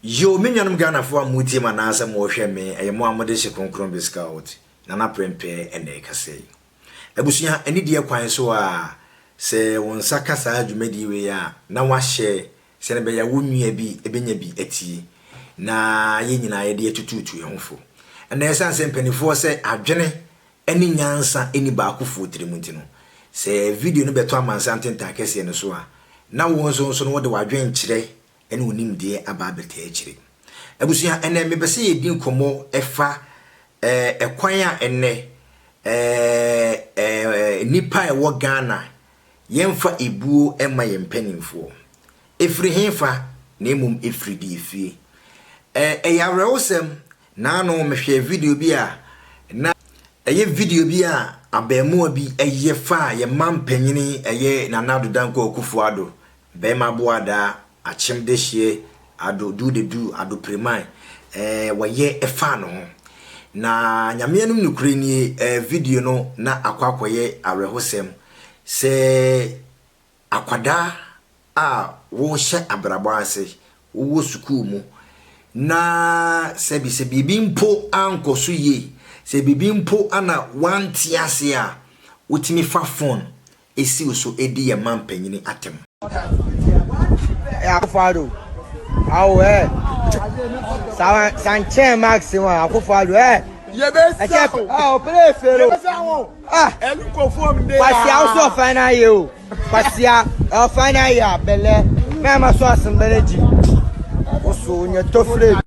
Yo, me nuanom Ghanafoɔ a motie me anaasɛ mohwɛ me, ɛyɛ mo a mode hyɛ Kronkron Viscount, Nana Prempeh na ɛkasa yi. Abusua, anidie kwan so a, sɛ wo nsa ka saa dwumadie wei a, na woahyɛ sɛnea ɛbɛyɛ a wo nua bi benya bi atie na yɛn nyinaa yɛde atutuutu yɛn ho fo. Ɛnna ɛsan sɛ mpanimfoɔ sɛ adwene ne nyansa nni baakofoɔ tirim nti no, sɛ video no bɛtɔ amansan ntentan akɛseɛ no so a, na wo nso nso no wode w'adwenkyerɛ ne wo nimdeɛ aba abɛtaa akyire. Abusua, ɛnnɛ mepɛ sɛ yɛdi nkɔmmɔ ɛfa ɛkwan a ɛnnɛ nnipa a ɛwɔ Ghana Yɛmfa ebuo mma yɛn mpanimfoɔ. Ɛfiri hefa? Na mmom ɛfiri deɛ efie. Ɛ, ɛyɛ awerɛhosɛm. Naano mehwɛɛ video bi a na ɛyɛ video bi a abɛɛmoa bi yɛ faa yɛn mampanin ɛyɛ Nana Addo Dankwa Akufo-Addo Bɛɛma boadaa akyem dehyeɛ ado duu de duu ado preman eh wɔyɛ ɛfaa no ho na Nyame anim nokore nie eh video no na akɔ akɔyɛ awerɛhosɛm sɛ akwadaa a wo hyɛ abrabɔ ase wo wɔ sukuu mu na sɛbi sɛ biribi mpo ankɔ so yie sɛ biribi mpo ana wante ase a wotumi fa phone siw so di yɛn mampanyin atɛm. Akufo-Addo, awo eh, sa sa nkyɛn Max ho a, Akufo-Addo eh. Yɛbɛsa wo, ah, ɔpere efere o. Yɛbɛsa wo, ah, ɛnu kofo mbe. Kwasia ɔsɔ ɔfan na ayɛ o, kwasia ɔfan na ayɛ a bɛlɛ, mɛ ama so asembɛlɛ gyi, ɔsɔ onyɛ tofre.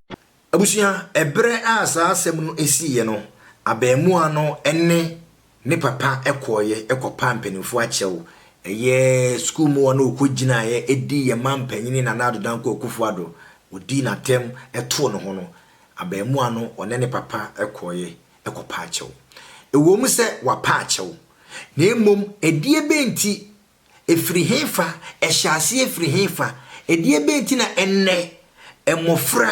Abusua, Ɛberɛ a saa asɛm no siiɛ no, abarimaa no ne ne papa kɔeɛ kɔpaa mpanimfoɔ akyɛw, ɛyɛ sukuu mmoa na wɔkɔgyinaeɛ dii yɛn manpanin Nana Addo Dankwa Akufo-Addo, wɔdii no atɛm too ne ho no, abarimaa no ɔne ne papa kɔeɛ kɔpaa akyɛw. Ɛwom sɛ wɔapa akyɛw, na mmom ɛdeɛbɛn nti Ɛfiri hefa? Ɛhyɛɛ aseɛ firi hefa? Ɛdeɛbɛn nti na ɛnnɛ mmɔfra,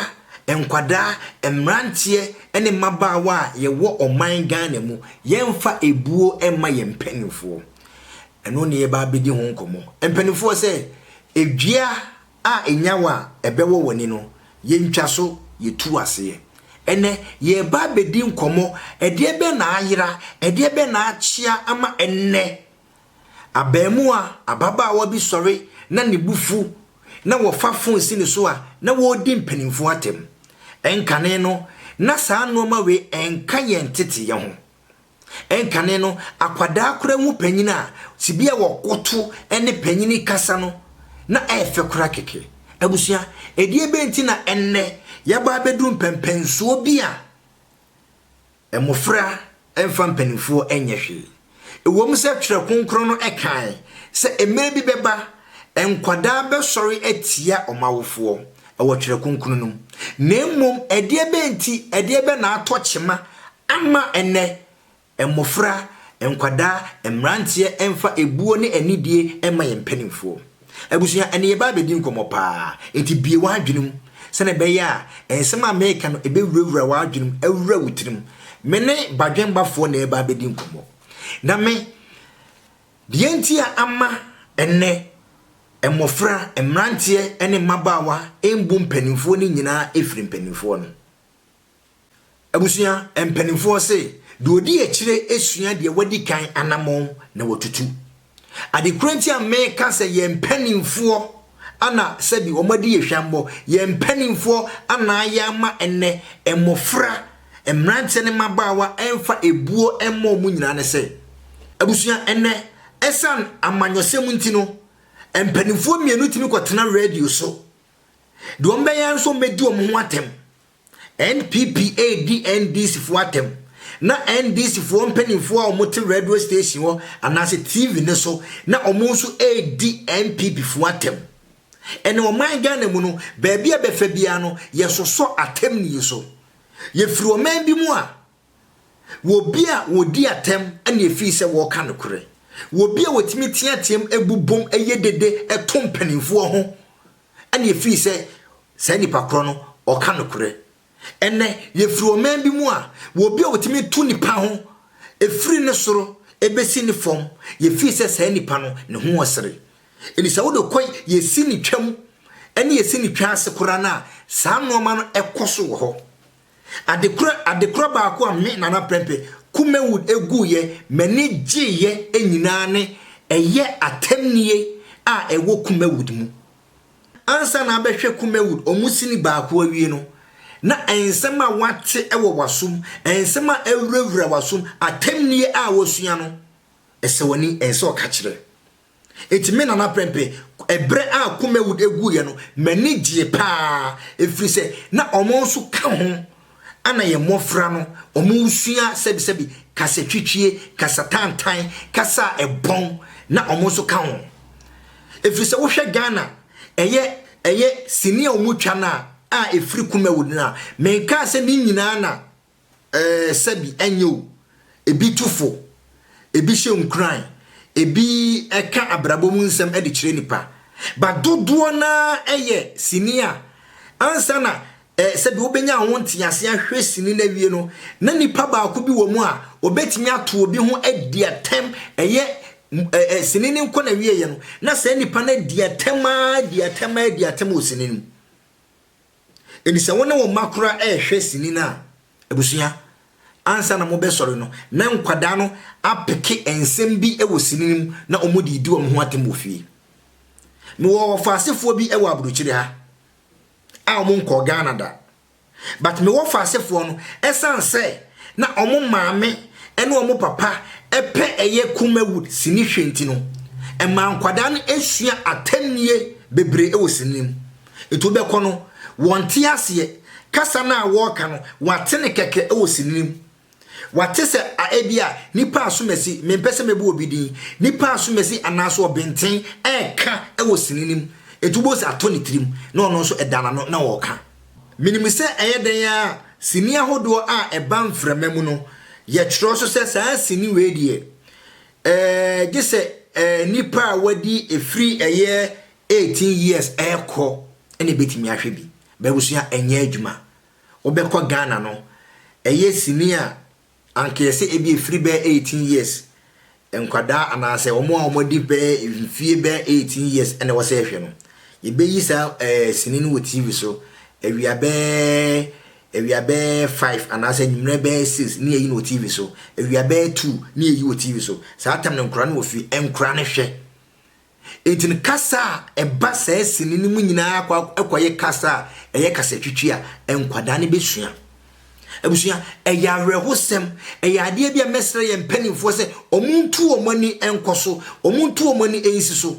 nkwadaa, mmeranteɛ ne mmabaawa a yɛwɔ ɔman Ghana mu, yɛmfa ɛbuo mma yɛn mpanimfoɔ? Ɛno na yɛreba abɛdi ho nkɔmmɔ. Mpanimfoɔ sɛ, dua a ɛnyawa a ɛbɛwɔ w'ani no, yɛntwa so, yɛtu aseɛ. Ɛnnɛ, yɛreba abɛdi nkɔmmɔ, ɛdeɛbɛn na ayera, ɛdeɛbɛn na akyea ama ɛnnɛ Abarimaa ababaawa bi sɔre na ne bo fu na wɔfa fon si ne so a na wɔredi mpanimfoɔ atɛm. Ɛnkane no, na saa nnoɔma wei nka yɛn nteteeɛ ho. Ɛnkane no, akwadaa koraa hu panin a, tebea a wɔkoto ne panin kasa no, na ɛyɛ fɛ koraa kɛkɛ. Abusua, ɛdeɛbɛn nti na ɛnnɛ yɛaba abɛduru mpɛnpɛnsoɔ bi a, Mmofra mfa mpanimfoɔ nyɛ hwee. Ɛwom sɛ Twerɛ Kronkron no kae sɛ mmerɛ bi bɛba nkwadaa bɛsɔre atia wɔn awofoɔ wɔ Twerɛ Kronkron no mu, na mmom ɛdeɛbɛn nti, ɛdeɛbɛn na atɔ kyema ama ɛnnɛ mmofra, nkwadaa, mmeranteɛ mfa ɛbuo ne anidie mma yɛn mpanimfoɔ? Abusua, ɛnde yɛba abɛdi nkɔmmɔ paa, enti bue w'adwene mu sɛnea ɛbɛyɛ a nsɛm a mereka no ɛbɛwurawura w'adwene mu awura wo tirim. Me ne Badwembafoɔ na ɛreba abɛdi nkɔmmɔ. Na me, deɛ nti a ama ɛnnɛ mmɔfra, mmeranteɛ ne mmabaawa mbu mpanimfoɔ no nyinaa firi mpanimfoɔ no. Abusua mpanimfoɔ se, deɛ ɔdi akyire sua deɛ wadi kan anamɔn na watutu. Ade korɔ nti a meka sɛ yɛn mpanimfoɔ ana sɛbi wɔn adi yɛ hwammɔ, yɛn mpanimfoɔ ana ayɛ ama ɛnɛ mmɔfra, mmeranteɛ ne mmabaawa mfa ebuo mmɔ wɔn nyinaa ne sɛ, abusua ɛnɛ ɛsan amanyɔsɛm nti no, mpanimfoɔ mmienu tumi kɔtena radio so, deɛ wɔbɛyɛ ara nso wɔbɛdi wɔn ho atɛm. NPP redi NDC foɔ atɛm na NDC foɔ mpaninfoɔ a wɔn te radio station hɔ anaase TV no so na wɔn nso redi NPP foɔ atɛm. Ɛnɛ ɔman Ghana mu no baabi a bɛfa biara no yɛsosɔ atɛm nie so. Yɛfiri ɔman bi mu a wɔ bi a wɔdi atɛm na yɛfiri sɛ wɔreka nokorɛ. Wɔ bi a wɔtumi teateam bobom yɛ dede to mpaninfoɔ ho. ɛna efiri sɛ saa nipa korɔ no ɔka nokorɛ. Ɛnɛ yɛfiri ɔman bi mu a wɔ obi a wɔtumi tu nipa ho efiri ne soro ɛbɛsi ne fam yɛfiri sɛ saa nipa no ne ho ɔsere. Ɛdi sɛ wode kɔ yɛsi ne twam ɛne yɛsi ne twa ase koraa no a saa nnoɔma no ɛkɔ so wɔ hɔ. Adekorɔ adekorɔ baako a me, Nana Prempeh, Kumawud guiɛ, m'ani gyeeɛ nyinaa ne ɛyɛ atɛmnie a ɛwɔ Kumawud mu. Ansa na abɛhwɛ Kumawud wɔn sini baako awie no, na nsɛm a woate wɔ w'asom, nsɛm a awurawura w'asom, atɛmnie a woasua no, ɛsɛ w'ani, ɛsɛ ɔka kyerɛ. Enti me Nana Prempeh, ɛberɛ a Kumawood guiɛ no, m'ani gyee pa ara, ɛfiri sɛ na wɔn nso ka ho, ɛna yɛn mmɔfra no, wɔresua sɛbisɛbi, kasatwitwie, kasatantan, kasa a ɛbɔn, na wɔn nso ka ho. Ɛfiri sɛ wohwɛ Ghana, ɛyɛ, ɛyɛ sini a wɔtwa no a, a ɛfiri Kumawood no a, menkaa sɛ ne nyinaa na Ɛɛ, sɛbi ɛnyɛ o, ebi tu fo, ebi hyɛ nkuran, ebi ka abrabɔ mu nsɛm de kyerɛ nnipa, but dodoɔ no ara yɛ sini a ansa na ɛɛ sɛbi wobɛnya ho nteaseɛ ahwɛ sini no awie no, na nnipa baako bi wɔ mu a ɔbɛtumi ato obi ho adi atɛm, ɛyɛ ɛɛ sini no nkɔ n'awieɛ no, na saa nnipa no adi atɛm ara, adi atɛm ara, adi atɛm wɔ sini no mu. Enti sɛ wo ne wo mma koraa rehwɛ sini no a, abusua, ansa na mobɛsɔre no, na nkwadaa no apeke nsɛm bi wɔ sini no mu na wɔde redi wɔn ho atɛm wɔ fie. Mewɔ ɔfaasefoɔ bi wɔ aburokyire ha a wɔn nkɔɔ Ghana da. But me wɔfaasefoɔ no, ɛsiane sɛ na wɔn maame ne wɔn papa pɛ ɛyɛ Kumawood sini hwɛ nti no, ɛmaa nkwadaa no sua atɛnnie bebree wɔ sini no mu. Enti wobɛkɔ no, wɔnte aseɛ. Kasa no a wɔreka no, wɔate no kɛkɛ wɔ sini no mu. Wɔate sɛ a ebia nnipa asomasi, mempɛ sɛ mɛbu obi din, nnipa asomasi anaasɛ ɔbenten reka wɔ sini no mu. Enti wobɛhu sɛ atɔ ne tirim na ɔno nso ɛda n'ano na ɔreka. Menim sɛ ɛyɛ dɛn ara a, sini ahodoɔ a ɛba mframa mu no, yɛtwerɛ so sɛ saa sini wei deɛ, ɛɛ, gye sɛ ɛɛ nnipa a wɔadi firi ɛyɛ Eighteen years ɛɛkɔ ɛna ebetumi ahwɛ bi. Bɛbusua ɛnyɛ adwuma. Wobɛkɔ Ghana no ɛyɛ sini a anka yɛsɛ ebi efiri bɛyɛ eighteen years nkwadaa anaasɛ wɔn a wɔn adi bɛyɛ mfie bɛyɛ eighteen years ɛna wɔsɛ ɛhwɛ no. Yɛbɛyi saa ɛɛ sini no wɔ TV so awia bɛyɛ awia bɛyɛ five anaasɛ anwummerɛ bɛyɛ six ne yɛyi no wɔ TV so. Awia bɛyɛ two ne yɛyi wɔ TV so. Saa tam no nkwadaa no wɔ fie, nkwadaa no hwɛ. Enti no kasa a ɛba saa sini no mu nyinaa kɔ akɔyɛ kasa a ɛyɛ kasatwitwi a nkwadaa no bɛsua. Abusua, ɛyɛ awerɛhosɛm. Ɛyɛ adeɛ bi a mɛsrɛ yɛn mpanimfoɔ sɛ wɔntu wɔn ani nkɔ so, wɔntu wɔn ani nsi so.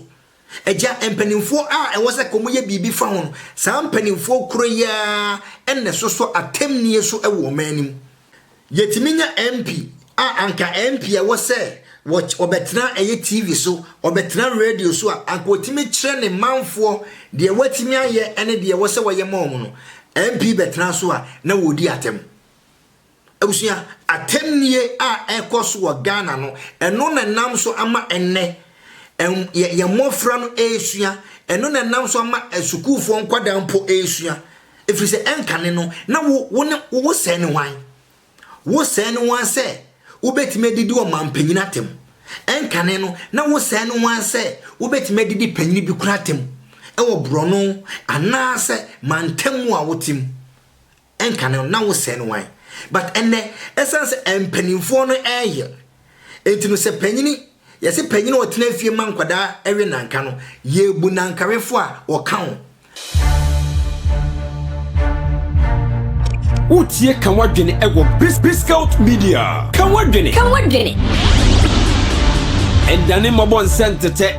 Agya, mpanimfoɔ a ɛwɔ sɛ ka wɔyɛ biribi fa ho no, saa mpanimfoɔ korɔ yi ara na ɛsosɔ atɛmnie so wɔ ɔman no mu. Yɛtumi nya MP a anka MP a ɛwɔ sɛ ɔbɛtena a ɛyɛ TV so, ɔbɛtena radio so a anka ɔtumi kyerɛ ne manfoɔ deɛ watumi ayɛ ne deɛ ɛwɔ sɛ ɔyɛ ma wɔn no. MP bɛtena so a na wɔredi atɛm. Abusua, atɛmnie a ɛkɔ so wɔ Ghana no, ɛno na ɛnam so ama ɛnnɛ yɛn mmɔfra no ɛresua, ɛno na ɛnam so ama sukuufoɔ nkwadaa mpo ɛresua. ɛfiri sɛ ɛnkane no na wo wo ne wo sɛɛ ne hwan? Wo sɛɛ ne hwan sɛ wobɛtumi adidi ɔmanpanyin atɛm? Ɛnkane no na wo sɛɛ ne hwan sɛ wobɛtumi adidi panyin bi koro atɛm wɔ borɔno anaasɛ mantam mu a wote mu? Ɛnkane no na wo sɛɛ ne hwan? But ɛnnɛ, ɛsiane sɛ mpanimfoɔ no reyɛ Enti no sɛ panyini, yɛse panyini a ɔtena fie ma nkwadaa we nanka no, yɛbu nankawefo a ɔka ho. Wotie Ka W'adwene wɔ Biscout Media. Ka w'adwene. Ka w'adwene. Ɛdane mmɔbɔ nsɛ ntetɛ.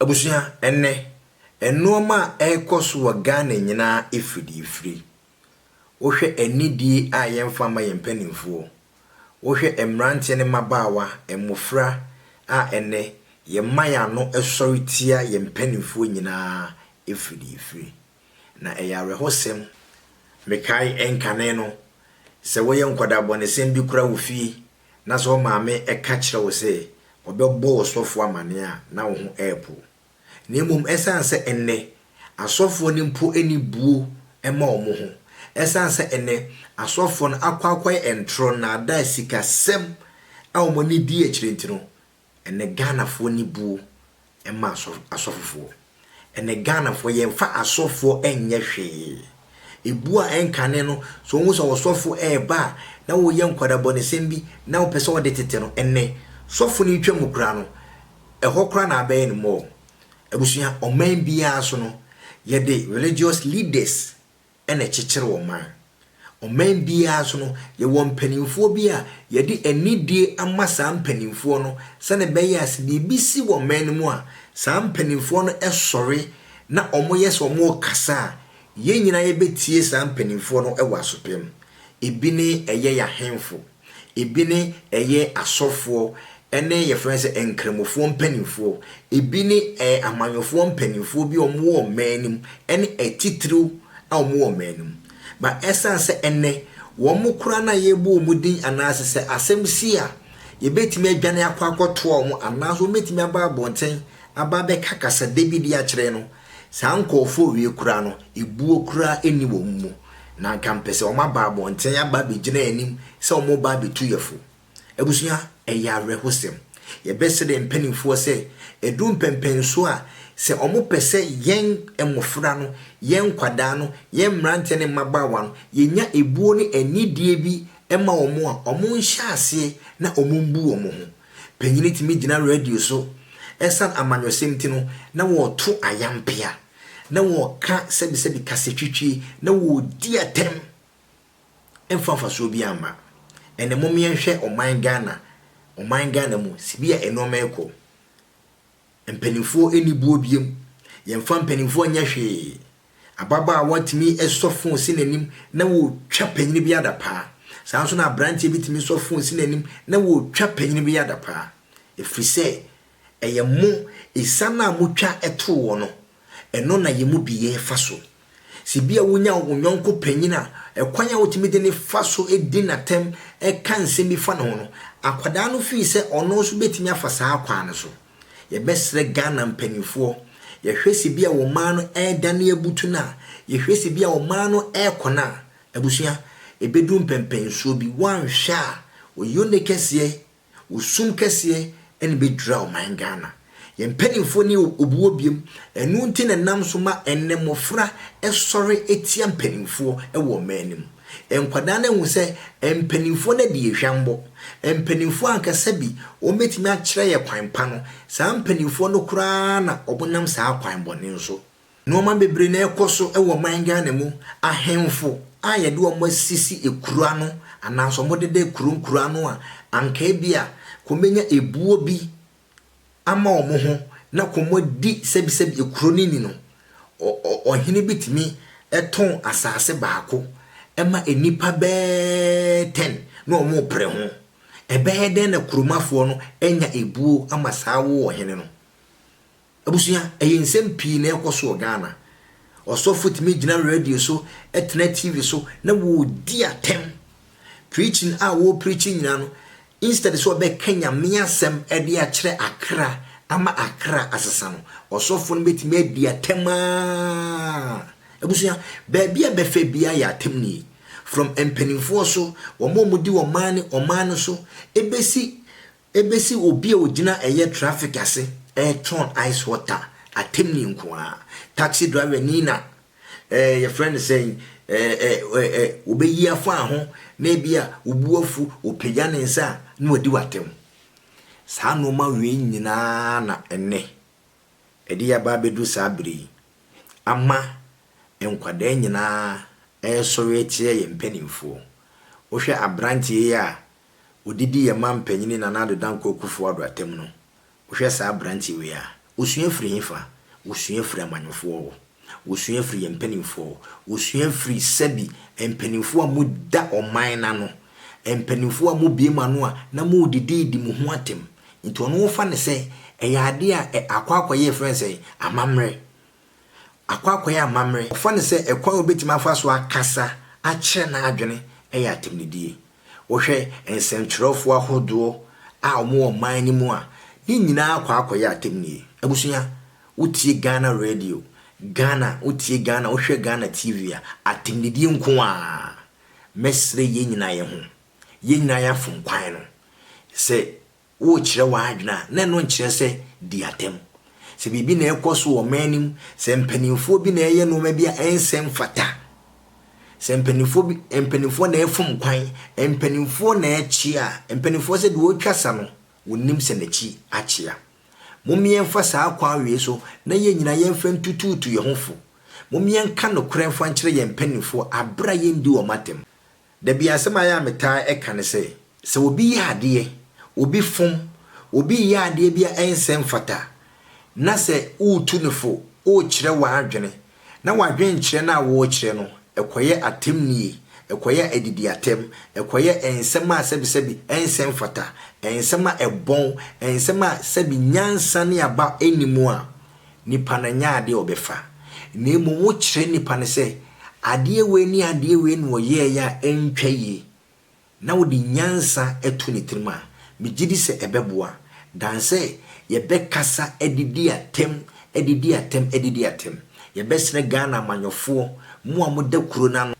Abusua, ɛnnɛ, nnoɔma a ɛrekɔ so wɔ Ghana nyinaa ɛfiri deɛ ɛfiri. Wohwɛ anidie a yɛmfa mma yɛn mpanimfoɔ, wohwɛ mmeranteɛ ne mmabaawa, mmofra a ɛnnɛ yɛma yɛn ano sɔre tia yɛn mpanimfoɔ nyinaa ɛfiri deɛ ɛfiri. Na ɛyɛ awerɛhosɛm. Mekae nkane no, sɛ woyɛ nkwadaa bɔnesɛm bi kora wo fie na sɛ wo maame ka kyerɛ wo sɛ ɔbɛbɔ wo sɔfo amanneɛ a, na wo ho repow. Na mmom esiane sɛ ɛnnɛ asɔfoɔ no mpo nni buo mma wɔn ho, esiane sɛ ɛnnɛ asɔfoɔ no akɔ akɔyɛ ntorɔ, nnaadaa, sikasɛm a wɔn ani di akyire nti no, Ɛnɛ Ghanafoɔ nni buo mma asɔfofoɔ. Ɛnɛ Ghanafoɔ yɛmfa asɔfoɔ nyɛ hwee. Ɛbuo a ɛnkane no, sɛ wohu sɛ ɔsɔfo reba a na woyɛ nkwadabɔnesɛm bi na wopɛ sɛ wode tete no, ɛnɛ sɔfo no retwa mu koraa no, ɛhɔ koraa na abɛyɛ no mall. Abusua, ɔman biara so no, yɛde religious leaders na ɛkyekyere ɔman. Ɔman biara nso no, yɛwɔ mpanimfoɔ bi a yɛde anidie ama saa mpanimfoɔ no sɛdeɛ ɛbɛyɛ a sɛ biribi si wɔ ɔman no mu a, saa mpanimfoɔ no sɔre na wɔyɛ sɛ wɔrekasa a, yɛn nyinaa yɛbɛtie saa mpanimfoɔ no wɔ asopem. Ebi ne ɛyɛ yɛn ahemfo. Ebi ne ɛyɛ asɔfoɔ ne yɛfrɛ no sɛ nkramofoɔ mpanimfoɔ. Ebi ne ɛɛ amanyɔfoɔ mpanimfoɔ bi a wɔwɔ ɔman no mu ne atitiriw a wɔwɔ ɔman no mu. Ba ɛsiane sɛ ɛnnɛ wɔn koraa no a yɛrebɔ wɔn din anaasɛ sɛ asɛm si a yɛbɛtumi adwane akɔ akɔtoa wɔn anaasɛ wɔbɛtumi aba abɔnten aba abɛka kasadɛ bi de akyerɛ no, Saa nkorɔfoɔ wei koraa no, ebuo koraa nni wɔn mu, na anka mpɛ sɛ wɔn aba abɔnten aba abɛgyina yɛn anim sɛ wɔn reba abɛtu yɛ fo. Abusua, ɛyɛ awerɛhosɛm. Yɛbɛsrɛ yɛn mpanimfoɔ sɛ, ɛduru mpɛnpɛnsoɔ a, sɛ wɔn pɛ sɛ yɛn mmɔfra no, yɛn nkwadaa no, yɛn mmeranteɛ ne mmabaawa no, yɛnya ebuo ne anidie bi ma wɔn a, wɔn nhyɛ aseɛ na wɔn mbu wɔn ho. Panyin tumi gyina radio so ɛsan amanyɔsɛm ti no na wɔɔto ayampea, na wɔɔka sɛbisɛbi kasatwitwie, na wɔɔdi atɛm ɛmfa mfasoɔ biaa mma. Ɛnɛ mom yɛnhwɛ ɔman Ghana, ɔman Ghana mu sibia ɛnoɔma ɛkɔ. Mpanimfoɔ nni boɔ biom. Yɛmfa mpanimfoɔ nyɛ hwee. Ababaawa tumi sɔ fon si n'anim na ɔretwa panin bi adapaa. Saa ara nso na aberanteɛ bi tumi sɔ fon si n'anim na ɔretwa panin bi adapaa. Ɛfiri sɛ, ɛyɛ mo, asiane a motwa too wɔn no, Ɛno na yɛn mu bi yɛ fa so. Sɛ ebia wunya wo yɔnko panyin a, kwan a wutumi de no fa so di no atɛm ka nsɛm bi fa ne ho no, akwadaa no fii sɛ ɔno nso betumi afa saa kwan no so. Yɛbɛsrɛ Ghana mpanimfoɔ, yɛhwɛ sɛ ebia wɔn mmaa no redane abutu no a, yɛhwɛ sɛ ebia wɔn mmaa no rekɔ no a, abusua, ebedu mpɛmpɛnsoɔ bi, woanhwɛ a, oyi onekɛseɛ Wo sum kɛseɛ na ɛbɛdwira ɔman Ghana. Yɛn mpanimfoɔ ne obuo biam, ɛno nti na ɛnam so ma ɛnnɛ mmɔfra sɔre tia mpanimfoɔ wɔ ɔman no mu. Nkwadaa no ahu sɛ mpanimfoɔ no adi yɛn hwammɔ. Mpanimfoɔ anka sɛ bi wɔbɛtumi akyerɛ yɛn kwan pa no, saa mpanimfoɔ no koraa na wɔnam saa kwan bɔne so. Nnoɔma bebree na ɛkɔ so wɔ ɔman Ghana mu, ahemfo a yɛde wɔn asisi kuro ano anaasɛ wɔn deda kuro nkuro ano a anka ebia wɔbɛnya ebuo bi ama wɔn ho na wɔadi sɛbisɛbi kuro no ni no, ɔhene bi tumi tɔn asaase baako ma nnipa bɛɛ ten na wɔn repere ho. Ɛbɛyɛ dɛn na kuromafoɔ no anya ebuo ama saa wo ɔhene no? Abusua, ɛyɛ nsɛm pii na ɛkɔ so wɔ Ghana. Ɔsɔfo tumi gyina radio so, ɛtena TV so na wɔredi atɛm. Preaching a wɔrepreachi nyinaa no, instead sɛ ɔbɛka Nyame asɛm de akyerɛ akra ama akra asesa no, ɔsɔfo no bɛtumi adi atɛm aa. Abusua, baabi a bɛfa biara yɛ atɛm nie. From mpanimfoɔ so, wɔn a wɔdi ɔman ne ɔman no so, ɛbɛsi Ebesi obi a ogyina ɛyɛ traffic ase retɔn ice water atemni nko ara. Taxi driver ni na eh, yɛfrɛ no sɛn, eh, eh, eh, eh, wɔbɛyi afa ho na ebi a wobu afu, wɔpagya ne nsa a na wadi w'atam. Saa nneɛma wei nyinaa na ɛnnɛ ɛde yɛaba abɛduru saa bere yi ama nkwadaa nyinaa resɔre atia yɛn mpanimfoɔ. Wohwɛ aberanteɛ yi a odidi yɛn man panyin Nana Addo Dankwa Akuffo Addo atem no, wohwɛ saa aberante wei a, wosua firi hefa? Wosua firi amanyɔfoɔ hɔ, wosua firi yɛn mpaninfoɔ hɔ, wosua firi sɛbi mpaninfoɔ a mo da ɔman no ano, mpaninfoɔ a mo bue mo ano a na mo redidi redi mo ho atem, nti ɔno wofa no sɛ ɛyɛ adeɛ a ɛ akɔ akɔ yɛ yɛfrɛ no sɛn? Amammerɛ. Akwakoraa yɛ amammerɛ. Wɔfa no sɛ ɛkwan a wobetumi afa so akasa akyerɛ n'adwene yɛ atɛmnidie. Wohwɛ nsɛnkyerɛwfo ahodoɔ a wɔwɔ ɔman no mu a, ne nyinaa kɔ akɔyɛ atɛmnie. Abusua, wotie Ghana radio, Ghana, wotie Ghana, wohwɛ Ghana TV a, atɛmnidie nko ara. Mɛsrɛ yɛn nyinaa yɛn ho, yɛn nyinaa yɛafom kwan no. Sɛ worekyerɛ w'adwene a, na ɛno nkyerɛ sɛ di atɛm. Sɛ biribi na ɛrekɔ so wɔ ɔman no mu, sɛ mpanimfoɔ bi na ɛreyɛ nneɛma bi a ɛnsɛ mfata, sɛ mpanimfoɔ bi mpanimfoɔ na ɛrefom kwan, mpanimfoɔ na ɛrekye a, mpanimfoɔ sɛ deɛ ɔretwa sa no, wɔnim sɛ n'akyi akyea. Mom yɛmfa saa kwan wei so na yɛn nyinaa yɛmfa ntutuutu yɛn ho fo. Mom yɛnka nokorɛ mfa nkyerɛ yɛn mpanimfoɔ berɛ a yɛndi wɔn atɛm. Da bi asɛm a ɛyɛ a metaa ka ne sɛ, sɛ obi yɛ adeɛ, obi fom, obi reyɛ adeɛ bi a ɛnsɛ mfata na sɛ woretu no fo, worekyerɛ w'adwene na w'adwenkyerɛ no a worekyerɛ no, ɛkɔyɛ atɛmnie, ɛkɔyɛ adidiatɛm, ɛkɔyɛ nsɛm a sɛbisɛbi ɛnsɛ mfata, nsɛm a ɛbɔn, nsɛm a sɛbi nyansa ne aba nni mu a, Nipa no nyɛ adeɛ a ɔbɛfa. Na mmom wokyerɛ nipa no sɛ adeɛ wei ne adeɛ wei na ɔyɛeɛ a ɛntwa yie, na wode nyansa to ne tirim a, megye di sɛ ɛbɛboa than sɛ yɛbɛkasa de di atɛm, de di atɛm, de di atɛm. Yɛbɛsrɛ Ghana amanyɔfoɔ, mo a moda kuro no ano,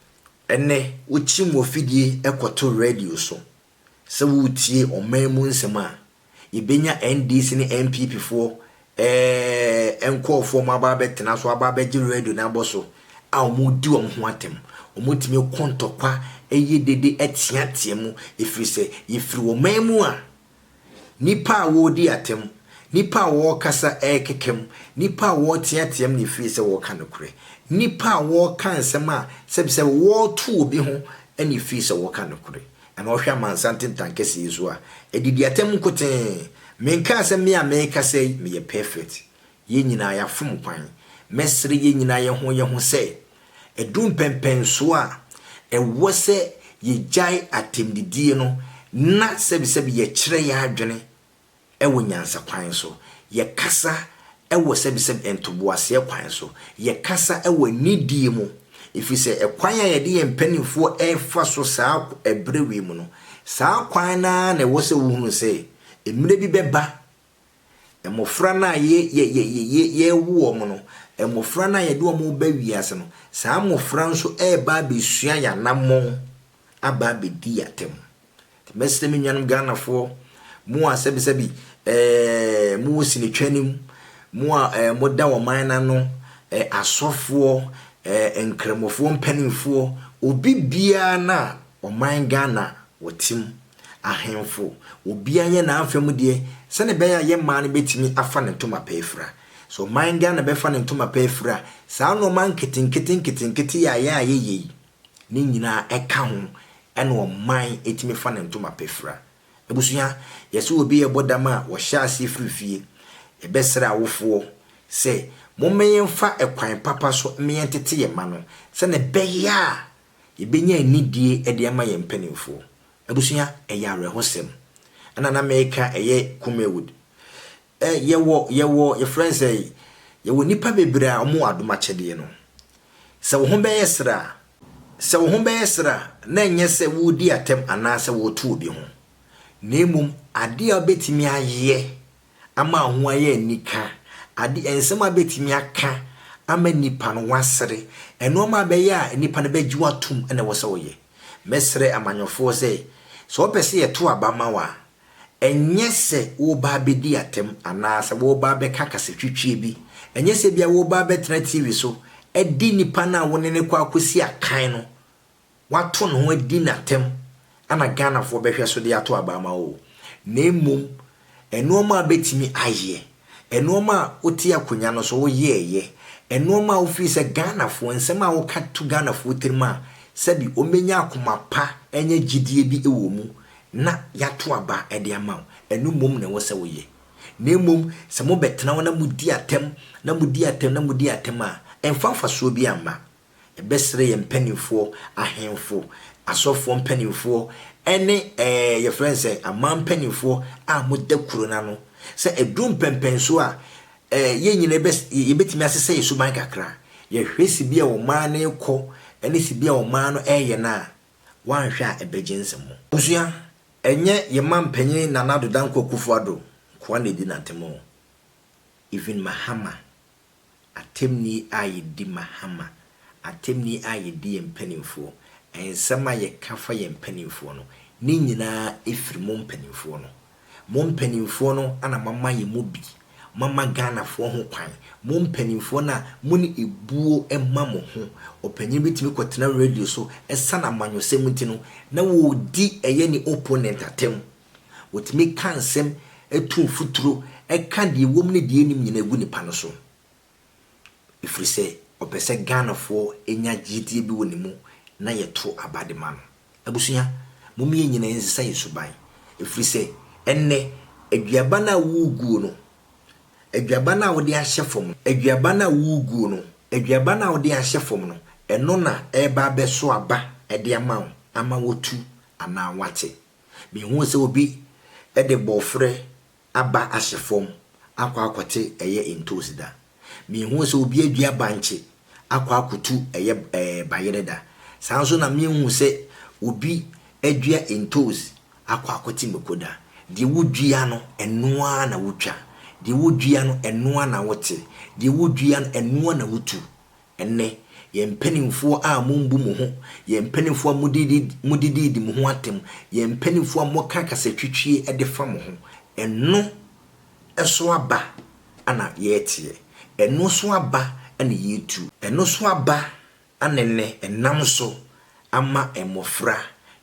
Ɛnnɛ, wokyim wɔ fidie kɔto radio so. Sɛ woretie ɔman mu nsɛm a, yɛbɛnya NDC ne NPP foɔ eh, nkorɔfoɔ wɔn aba abɛtena so aba abɛgye radio no abɔ so a wɔredi wɔn ho atɛm. Wɔtumi ko ntɔkwa, yɛ dede, teatea mu ɛfiri sɛ yɛfiri ɔman mu a Nnipa a wɔredi atɛm, nnipa a wɔrekasa rekekam, nnipa a wɔreteateam na efiri sɛ wɔreka nokorɛ, nnipa a wɔreka nsɛm a sɛbisɛbi wɔreto obi ho na efiri sɛ wɔreka nokorɛ. Ɛnna ɔhwɛ amansan tentan kɛseɛ yi so a, ɛdidi atɛm nkotee. Menkaa sɛ me a merekasa yi meyɛ pɛfɛt. Yɛn nyinaa yɛafom kwan. Mɛsrɛ yɛn nyinaa yɛn ho yɛn ho sɛ, ɛduru mpɛnpɛnsoɔ a, ɛwɔ sɛ yɛgyae atɛmdidie no na sɛbisɛbi yɛkyerɛ yɛn adwene wɔ nyansa kwan so, yɛkasa wɔ sɛbisɛbi ntoboaseɛ kwan so, yɛkasa wɔ anidie mu, ɛfiri sɛ ɛkwan a yɛde yɛn mpanimfoɔ refa so saa ɛberɛ wei mu no, saa kwan no ara na ɛwɔ sɛ wohunu sɛ mmerɛ bi bɛba Mmofra no a yɛ, yɛ, yɛ, yɛ, yɛ, yɛrewo wɔn no, mmofra no a yɛde wɔn reba wiase no, saa mmofra nso reba abɛsua yɛn anammɔn aba abɛdi yɛn atam. Nti mɛsrɛ me nuanom Ghanafoɔ, mo a sɛbisɛbi ɛɛ, mowɔ sinitwa no mu, mo a ɛɛ, moda ɔman no ano, ɛɛ, asɔfoɔ, ɛɛ, nkramofoɔ mpanimfoɔ, obi biara no a ɔman Ghana wɔte mu, Ahemfo, obiara nyɛ n'afa mu deɛ, sɛdeɛ ɛbɛyɛ a yɛn mmaa no bɛtumi afa ne ntoma pa afira. Sɛ ɔman Ghana bɛfa ne ntoma pa afira a, saa nnoɔma nketenkete nketenkete a yɛn a yɛyɛ yi, ne nyinaa ɛka ho na ɔman tumi fa ne ntoma pa fira. Abusua, yɛse obi yɛbɔ dam a, wɔhyɛ aseɛ firi fie. Yɛbɛsrɛ awofoɔ sɛ, momma yɛmfa ɛkwan papa so mma yɛntete yɛn mma no, sɛdeɛ ɛbɛyɛ a Yɛbɛnya anidie de ama yɛn mpanimfoɔ. Abusua, ɛyɛ awerɛhosɛm. Ɛna na meka ɛyɛ Kumawood. Ɛ, yɛwɔ, yɛwɔ, yɛfrɛ no sɛ, yɛwɔ nnipa bebree a wɔn wɔ adom akyɛdeɛ no. Sɛ wo ho bɛyɛ serɛ a, sɛ wo ho bɛyɛ serɛ a, na ɛnyɛ sɛ woredi atɛm anaasɛ woreto obi ho. Na mmom, adeɛ a wobɛtumi ayɛ ama ho ayɛ anika, ade, nsɛm a ebetumi aka ama nnipa no wɔasere, nneɛma a ɛbɛyɛ a nnipa no bɛgye wo atom na ɛwɔ sɛ woyɛ. Mɛsrɛ amanyɔfoɔ sɛ, sɛ wɔpɛ sɛ yɛto aba ma wo a, ɛnyɛ sɛ woreba abɛdi atɛm anaasɛ woreba abɛka kasatwitwie bi, ɛnyɛ sɛ ebia woreba abɛtena TV so adi nnipa no a wo ne no kɔ akɔsi akan no wato ne ho adi n'atɛm na Ghanafoɔ bɛhwɛ so de ato aba ama wo o, na mmom nnoɔma a wobɛtumi ayɛ, nnoɔma a wote akonnwa no so woyɛɛyɛ, nnoɔma a wo feel sɛ Ghanafoɔ, nsɛm a woka to Ghanafoɔ tirim a sɛbi wɔbɛnya akoma pa anya gyidie bi wɔ mu na yɛato aba de ama wo. Ɛno mmom na ɛwɔ sɛ woyɛ. Na mmom sɛ mobɛtena hɔ na modi atɛm, na modi atɛm, na modi atɛm a, ɛmfa mfasoɔ biara mma. Yɛbɛsrɛ yɛn mpanimfoɔ, ahemfo, asɔfoɔ mpanimfoɔ ne ɛɛ yɛfrɛ no sɛ aman mpanimfoɔ a wɔda kuro no ano sɛ ɛduru mpɛnpɛnsoɔ a, ɛɛ yɛn nyinaa bɛ yɛbɛtumi asesa yɛn suban kakra. Yɛhwɛ sibea a ɔman no rekɔ ne sibea a ɔman no reyɛ no a, woanhwɛ a ɛbɛgye nsɛm. Abusua, ɛnyɛ yɛn manpanin Nana Addo Dankwa Akufo-Addo nkoa na ɛdi n'atemmu. Even Mahama. atemni a yedi ma Hama, atemni a yedi yɛn mpanimfoɔ, nsɛm a yɛka fa yɛn mpanimfoɔ no, ne nyinaa firi mo mpanimfoɔ no. Mo mpanimfoɔ no na moama yɛn mu bi, moama Ghanafoɔ ho kwan, mo mpanimfoɔ no a mo ne ebuo ma mo ho. Ɔpanyin bi tumi kɔtena radio so, ɛsiane amanyɔsɛm nti no, na wɔredi ɛyɛ ne opponent atɛm. Wɔtumi ka nsɛm tu mfuturo ka deɛ ɛwɔ mu ne deɛ ɛnnim nyinaa gu nipa no so ɛfiri sɛ ɔpɛ sɛ Ghanafoɔ nya gyedie bi wɔ ne mu na yɛto aba de ma no. Abusua, mom yɛn nyinaa yɛnsesa yɛn suban ɛfiri sɛ ɛnnɛ aduaba no a woreguo no, aduaba no a wode ahyɛ fam no, aduaba no a woreguo no, aduaba no a wode ahyɛ fam no, ɛno na ɛreba abɛso aba de ama wo ama woatu anaa woate. Mehuu sɛ obi de bɔɔfrɛ aba ahyɛ fam akɔ akɔte ɛyɛ ntoosi da. Mehuu sɛ obi adua bankye akɔ akotu ɛyɛ bayerɛ da. Saa ara nso na mehuu sɛ obi adua ntoosi akɔ akɔte mako da. Deɛ wodua no, ɛno ara na wotwa. Deɛ wodua no, ɛno ara na wote. Deɛ wodua no, ɛno ara na wotu. Ɛnnɛ, yɛn mpanimfoɔ a mombu mo ho, yɛn mpanimfoɔ a modidiidi mo ho atɛm, yɛn mpanimfoɔ a moka kasatwitwie de fa mo ho, ɛno so aba na yɛreteɛ, ɛno so aba na yɛretu, ɛno so aba na ɛnnɛ ɛnam so ama mmɔfra,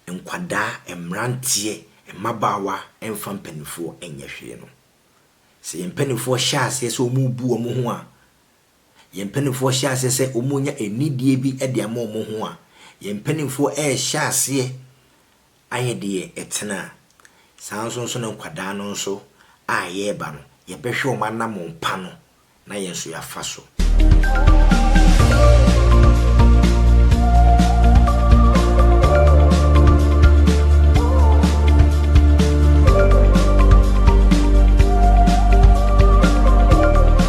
nkwadaa, mmeranteɛ, mmabaawa mfa mpanimfoɔ nyɛ hwee no. Sɛ yɛn mpanimfoɔ hyɛ aseɛ sɛ wɔrebu wɔn ho a, Yɛn mpanimfoɔ hyɛ aseɛ sɛ wɔrenya anidie bi de ama wɔn ho a, yɛn mpanimfoɔ rehyɛ aseɛ ayɛ deɛ ɛtene a, saa nso nso na nkwadaa no nso a yɛreba no, yɛbɛhwɛ wɔn anamɔn pa no na yɛn nso yɛafa so.